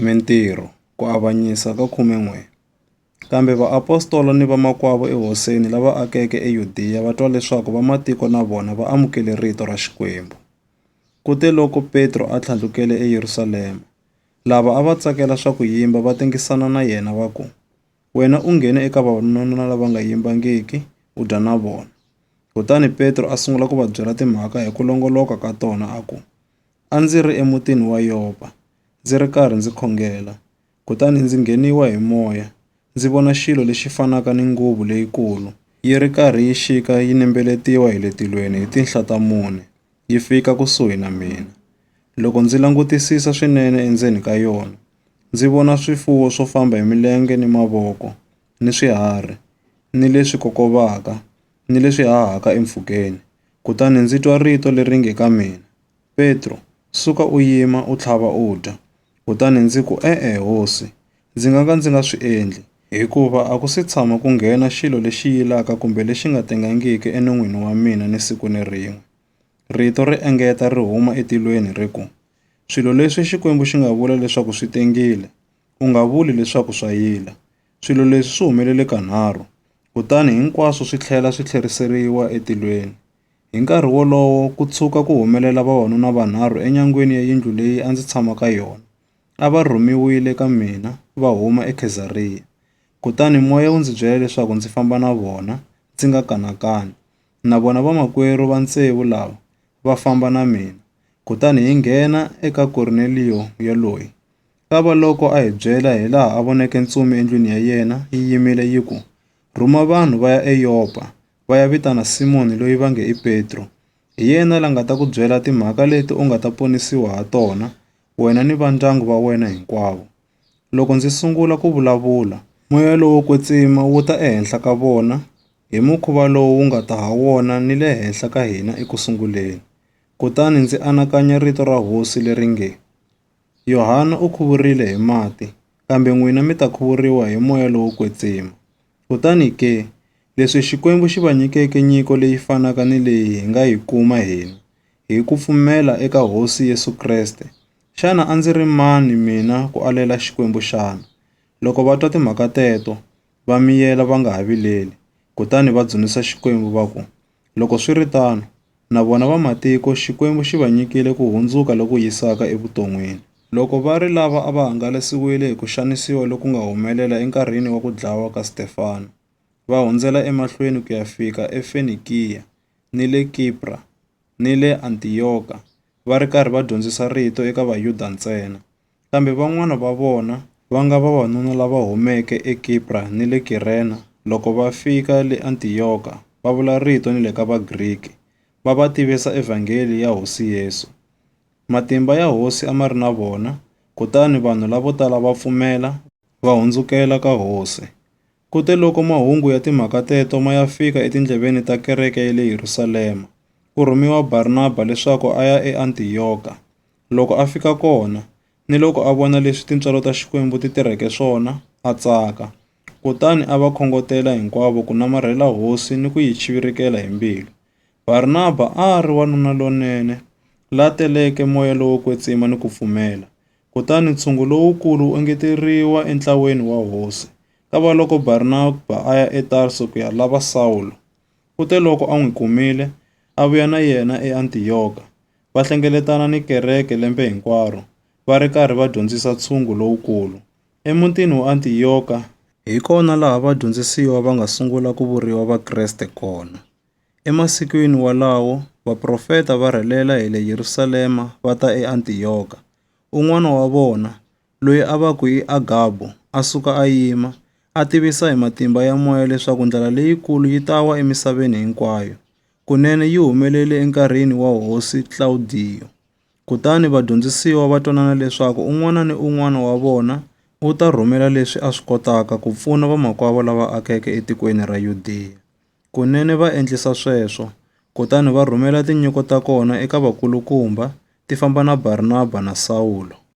Mintirho, ku avanyisa ka 11 Kambe vaapostola ni vamakwavo ehosini lava akeke eYudiya va twa leswaku vamatiko na vona va amukele rito ra Xikwembu. Kuteloko Petro a tlhandlukele eYerusalema, lava a va tsakela swa ku yimba va tengisana na yena va ku, Wena u nghene eka vavanuna lava nga yimbangiki u dya na vona. Kutani Petro a sungula ku va byela timhaka hi ku longoloka ka tona a ku, A ndzi ri emutini wa Yopa, ndzi ri karhi ndzi khongela, kutani ndzi ngheniwa hi moya, ndzi vona xilo lexi fanaka ni nguvu leyikulu, yi ri karhi yi xika yi nembeletiwa hi le tilweni hi tinhla ta mune, yi fika kusuhi na mina. Loko ndzi langutisisa swinene endzeni ka yona, ndzi vona swifuwo swo famba hi milenge ni mavoko, ni swiharhi, ni leswi kokovaka, ni leswi hahaka empfhukeni. Kutani ndzi twa rito leri nge ka mina, Petro, suka u yima, u tlhava u dya. Kutani ndzi ku, E-e, Hosi, ndzi nga ka ndzi nga swi endli, hikuva a ku si tshama ku nghena xilo lexi yilaka kumbe lexi nga tengangiki enon'wini wa mina ni siku ni rin'we. Rito ri engeta ri huma etilweni ri ku, Swilo leswi Xikwembu xi nga vula leswaku swi tengile, u nga vuli leswaku swa yila. Swilo leswi swi humelele kanharhu, kutani hinkwaswo swi tlhela swi tlheriseriwa etilweni. Hi nkarhi wolowo ku tshuka ku humelela vavanuna vanharhu enyangweni ya yindlu leyi a ndzi tshama ka yona. A va rhumiwile ka mina va huma eKhezariya. Kutani moya wu ndzi byela leswaku ndzi famba na vona, ndzi nga kanakani. Na vona vamakwerhu va tsevu lava va famba na mina, kutani hi nghena eka Korneliyo yoloye. Kavaloko a hi byela hilaha a voneke ntsumi endlwini ya yena yi yimile yi ku, Rhuma vanhu va ya eYopa, va ya vitana Simoni loyi va nge i Petro. Hi yena la nga ta ku byela timhaka leti u nga ta ponisiwa ha tona, wena ni vandyangu va wena hinkwavo. Loko ndzi sungula ku vulavula, moya lowo kwetsima wu ta ehenhla ka vona hi mukhuva lowu wu nga ta ha wona ni le henhla ka hina eku sunguleni. Kutani ndzi anakanya rito ra Hosi leri nge, Yohana u khuvurile hi mati, kambe n'wina mi ta khuvuriwa hi Moya lowo Kwetsima. Kutani ke, leswi Xikwembu xi va nyikeke nyiko leyi fanaka ni leyi hi nga yi kuma hina, hi ku pfumela eka Hosi Yesu Kreste, xana a ndzi ri mani mina ku alela Xikwembu xana? Loko va twa timhaka teto, va miyela va nga ha vileli, kutani va dzunisa Xikwembu va ku, Loko swi ri tano, na vona vamatiko Xikwembu xi va nyikile ku hundzuka loku yisaka evuton'wini. Loko va ri lava a va hangalasiwile hi ku xanisiwa loku nga humelela enkarhini wa ku dlawa ka Stefano, va hundzela emahlweni ku ya fika eFenikiya, ni le Kipra, ni le Antiyoka, va ri karhi va dyondzisa rito eka Vayuda ntsena. Kambe van'wana va vona, va nga vavanuna lava humeke eKipra ni le Kirena, loko va fika le Antiyoka, va vula rito ni le ka Vagriki, va va tivisa Evhangeli ya Hosi Yesu. Matimba ya Hosi a ma ri na vona, kutani vanhu lavo tala va pfumela, va hundzukela ka Hosi. Kuteloko mahungu ya timhaka teto ma ya fika etindleveni ta kereke ya le Yerusalema, ku rhumiwa Barnaba leswaku a ya eAntiyoka. Loko a fika kona, niloko a vona leswi tintswalo ta Xikwembu ti tirheke swona, a tsaka. Kutani a va khongotela hinkwavo ku namarhela Hosi ni ku yi chivirikela hi mbilu. Barnaba a a ri wanuna lonene, la teleke moya lowo kwetsima ni ku pfumela. Kutani ntshungu lowukulu wu engeteriwa entlaweni wa hosi. Kavaloko Barnaba a ya eTarso ku ya lava Sawulo, kuteloko a n'wi kumile, a vuya na yena eAntiyoka, va hlengeletana ni kereke lembe hinkwaro, va ri karhi va dyondzisa ntshungu lowukulu. Emutini wa Antiyoka, hi kona laha vadyondzisiwa va nga sungula ku vuriwa Vakreste kona. Emasikwini walawo, vaprofeta va rhelela hi le Yerusalema va ta eAntiyoka. Un'wana wa vona, loyi a va ku i Agabu, a suka a yima, a tivisa hi matimba ya moya leswaku ndlala leyikulu yi ta wa emisaveni hinkwayo. Kunene yi humelele enkarhini wa Hosi Klawudiyo. Kutani vadyondzisiwa va twanana leswaku un'wana ni un'wana wa vona u ta rhumela leswi a swi kotaka ku pfuna vamakwavo lava akeke etikweni ra Yudeya. Kunene va endlisa sweswo, kutani va rhumela tinyiko ta kona eka vakulukumba, ti famba na Barnaba na Sawulo.